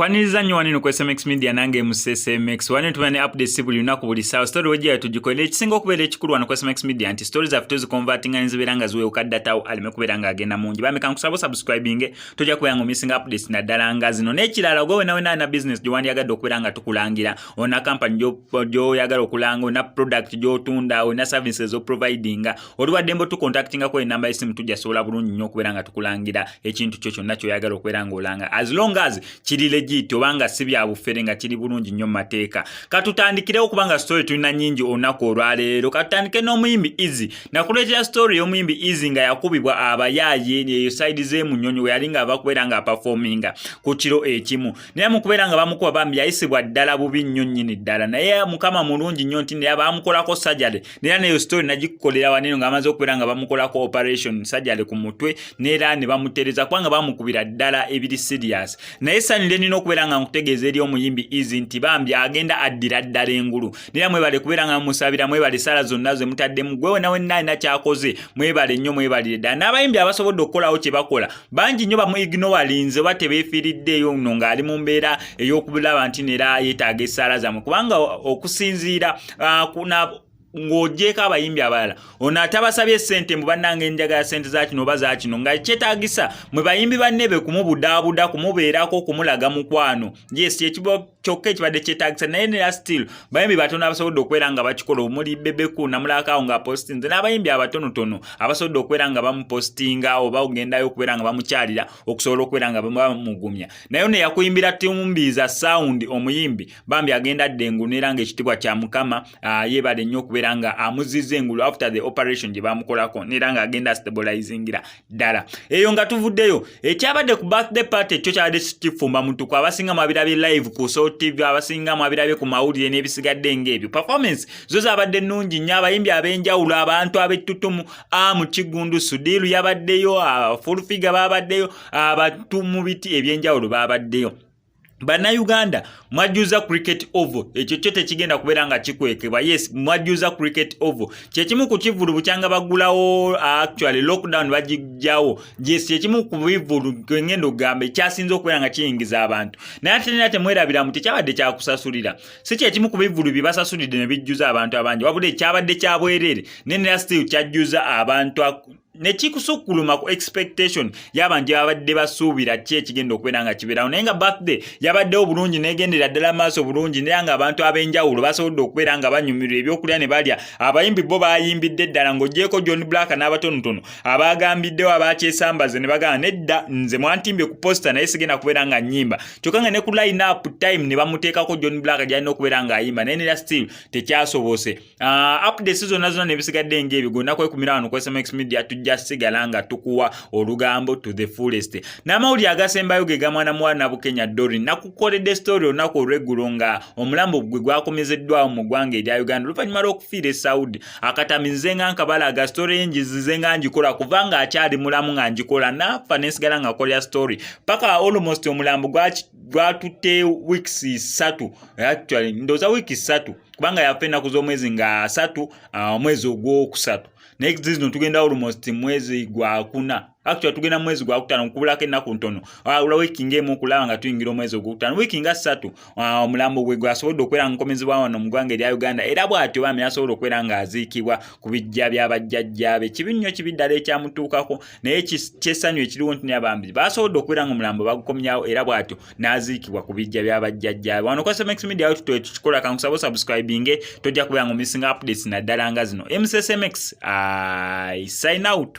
kwaniriza nnyo waneno ku smx media nange mu smx waneno tuba ne updates buli lunaku buli saawa story wejjira tugikolera ekisinga okubeera ekikulu wano ku smx media nti story zaffe tuzikonvatinga nezibeera nga ziwewuka datawo aleme kubeera nga agenda mungi bameka nkusaba osubscribinge tojja kubeera nga omisinga updates naddala nga zino n'ekirala ogwe wenawenaana business gye wandyagadde okubeera nga tukulangira olina kampani gyoyagala okulanga olina product gyotunda olina service ezoprovidinga oli waddembe otukontaktingako enamba yesimu tujasobola bulungi nnyo okubeera nga tukulangira ekintu kyo kyonna kyoyagala okubeera nga olanga as long as kiri legit obanga si byabufere nga kiri bulungi nnyo mu mateeka katutandikirewo kubanga story tulina nyingi olunaku olwaleero katutandike n'omuyimbi easy nakuleetera story y'omuyimbi easy nga yakubibwa abayaaye eyo side zemunyonyi weyali nga ava kubeera nga apafominga ku kiro ekimu naye mukubeera nga bamukuba bambi yayisibwa ddala bubi nnyo nnyini ddala naye mukama mulungi nnyo nti naye bamukolako sajale nera neyo story nagikukolera waneno nga amaze okubeera nga bamukolako operation sajale ku mutwe nera ne bamutereza kubanga bamukubira ddala ebiri serious naye sanyu lyenina okubeera nga nkutegeeza eri omuyimbi izi nti bambi agenda addira ddala engulu naye mwebale kubeera nga mumusabira mwebale esaala zonna ze mutaddemu gwe wena wenna alina kyakoze mwebale nnyo mwebalire ddala n'abayimbi abasobodde okukolawo kye bakola bangi nnyo bamuignowalinze oba tebeefiiriddeeyo no ng'ali mu mbeera ey'okulaba nti neera yeetaaga esaala zammwe kubanga okusinziira ah, ng'ogyeko abayimbi abalala ono atabasabye sente mbu bannanga enjagala sente za kino oba za kino nga kyetagisa mwe bayimbi banne be kumubudaabuda kumubeerako kumulaga mukwano yes kyekibo kyokka ekibadde kyetagisa naye nera still bayimbi batono abasobodde okubeera nga bakikola omuli bebeku namulakaawo nga apostinze n'abayimbi abatonotono abasobodde okubeera nga bamupostinga oba ogendayo okubeera nga bamukyalira okusobola okubeera nga bamugumya naye ono yakuyimbira tumbiiza sound omuyimbi bambi agenda ddengu nera nga ekitibwa kya mukama uh, yebale nnyo okubeera nga amuziza engulu after the operation gye bamukolako neera nga agenda stabilizingira ddala eyo nga tuvuddeyo ekyabadde ku birthday party kyo kyabadde kifumba mutuku abasinga mwabirabye live ku so tv abasinga mwabirabye ku mawulire n'ebisigadde ng'ebyo performance zo zabadde nnungi nnyo abayimbi ab'enjawulo abantu ab'ettutumu a mu kigundu sudiiru yabaddeyo fulfiga babaddeyo abatu mu biti eby'enjawulo babaddeyo bannayuganda mwajjuza cricket oval ekyo kyo tekigenda kubeera nga kikwekebwa yes mwajjuza cricket oval kyekimu ku kivulu bukyanga bagulawo actually lockdown bagijjawo yes kyekimu ku bivulu kengenda okugamba ekyasinza okubeera nga kiyingiza abantu naye ate nera temwerabira mu tekyabadde kyakusasulira si kyekimu ku bivulu bye basasulidde ne bijjuza abantu abangi wabula ekyabadde kyabwereere nenera still kyajjuza abantu ne kikusukkuluma ku expectation y'abantu ababadde basuubira ki ekigenda okubeera nga kibeerawo naye nga birthday yabaddewo bulungi negendera ddala maaso bulungi naye nga abantu ab'enjawulo basobodde okubeera nga banyumirwa ebyokulya ne balya abayimbi bo bayimbidde ddala ng'ogyeko john black n'abatonotono abaagambiddewo abakyesambaze ne bagamba nedda nze mwantimbye ku posta naye sigenda kubeera nga nyimba kyokka nga ne ku line up time ne bamuteekako john black gyalina okubeera ng'ayimba naye nera still tekyasobose Uh, ah, updates zonna zonna nebisigadde ngaebigwo naku ekumira wano ku smax media tujja sigala nga tukuwa olugambo to the fullest n'amawulire agasembayo ge gamwana muwala nabukenya dori nakukoledde story olunaku olweggulo nga omulambo gwe gwakomezeddwawo mu ggwanga erya uganda oluvannyuma lw'okufiira e saudi akatami nze nga nkabalaga story ye ngizize nga ngikola kuva nga akyali mulamu nga ngikola nafa nensigala nga kolera story paka almost omulambo gwatutte weeks ssatu actually ndooza wiiki ssatu kubanga yafa ennaku z'omwezi nga asatu ah, omwezi ogwokusatu naye zino tugenda almost mwezi gwakuna actually tugenda mwezi gwakutano nkubulako ennaku ntono ah, olwa wiiki ngaemu okulaba nga tuyingira omwezi ogwokutano wiiki nga ssatu ah, omulambo gwe gwasobodde okubeera nga nkomezebwa wano mu ggwanga erya uganda era bw'atyo bami asobola okubeera nga aziikibwa ku bijja bya bajjajjaabe kibi nnyo kibi ddala ekyamutuukako naye kyessanyu ekiriwo nti naye bambi basobodde okubeera nga omulambo bagukomyawo era bw'atyo n'aziikibwa ku bijja bya bajjajjaabe wano kwasa max media awo tutoye tukikola kankusaba osubscribinge tojja kubeera nga omissinga updates naddala nga zino msmx i sign out